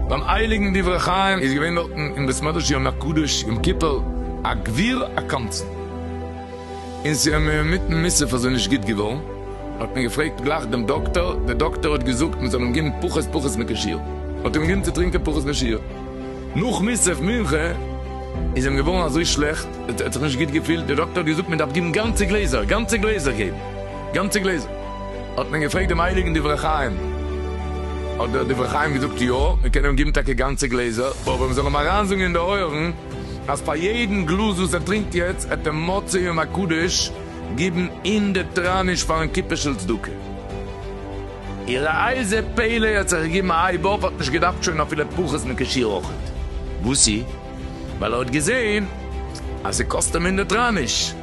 ביים הייליגן דברי חיים איז געווען דארטן אין בית מדרש יום הקדוש יום כיפור א גביר א קמצן, און ס'איז אים אינמיטן מיסה פאר זיי נישט גוט געווארן, האט מען געפרעגט גלייך דעם דאקטאר, דער דאקטאר האט געזאגט מען זאל אים געבן פחות פחות מקושיות, האט אים געבן צו טרינקען פחות מקושיות. נאך מוסף מנחה איז אים געווארן אזוי שלעכט, ער האט זיך נישט גוט געפילט, די דאקטער האט געזאגט מען דארף געבן גאנצע גלעזער, גאנצע גלעזער געבן, גאנצע גלעזער, האט מען געפרעגט דעם הייליגן דברי חיים, האט דער דברי חיים געזאגט יא, מען קען אים געבן טאקע גאנצע גלעזער, אבער מען זאל אים אריינזאגן אין די אויערן אז פאר יעדן גלאז וואס ער טרינקט יעצט העט ער מוצאי יום הקדוש געבן הונדערט טראניש פארן קופה של צדקה. איר אייזע פעלע האט זיך געגעבן א הייב אויף, האט נישט געדארפט שוין אפילו פחות מכשיר אויכעט. וואסי? ווייל ער האט געזעהן אז ס'קאסט אים הונדערט ראניש.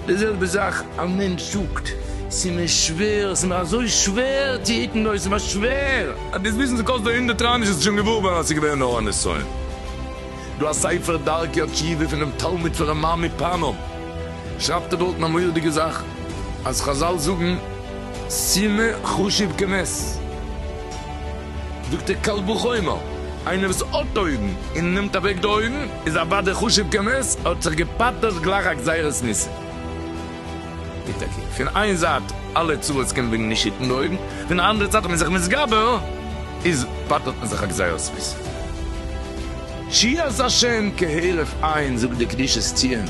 די זעלבע זאך א מענטש זאגט, ס'איז מיר שווער, ס'איז מיר אזוי שווער צו היטן דא, עס איז מיר שווער. אז דו וועסט וויסן ס'קאסט דיר הונדערט ראניש וועסטו שוין געוואר ווערן אז ס'איז געווען נאר א נסיון. דא א ספר דרכי התשובה פונעם תלמיד פון רמ מ מפאנאוו שרייבט ער דארטן א מורא'דיגע זאך אז חזל זאגן, ס'מער חשוב כנס. זאגט ער קל וחומר, איינער וואס האט אויגן און נעמט אוועק די אויגן איז אוודאי חשוב כנס, האט זיך געפאטערט גלייך א גזירת ניסים. און טאקע, פון איין זייט אלע צרות קומען וועגן נישט היטן די אויגן, פון די אנדערע זייט אז מען איז זיך מתגבר איז פאטערט מען זיך א גזירת ניסים. שיעז השם כהרף עין זאגט די קדושת ציון.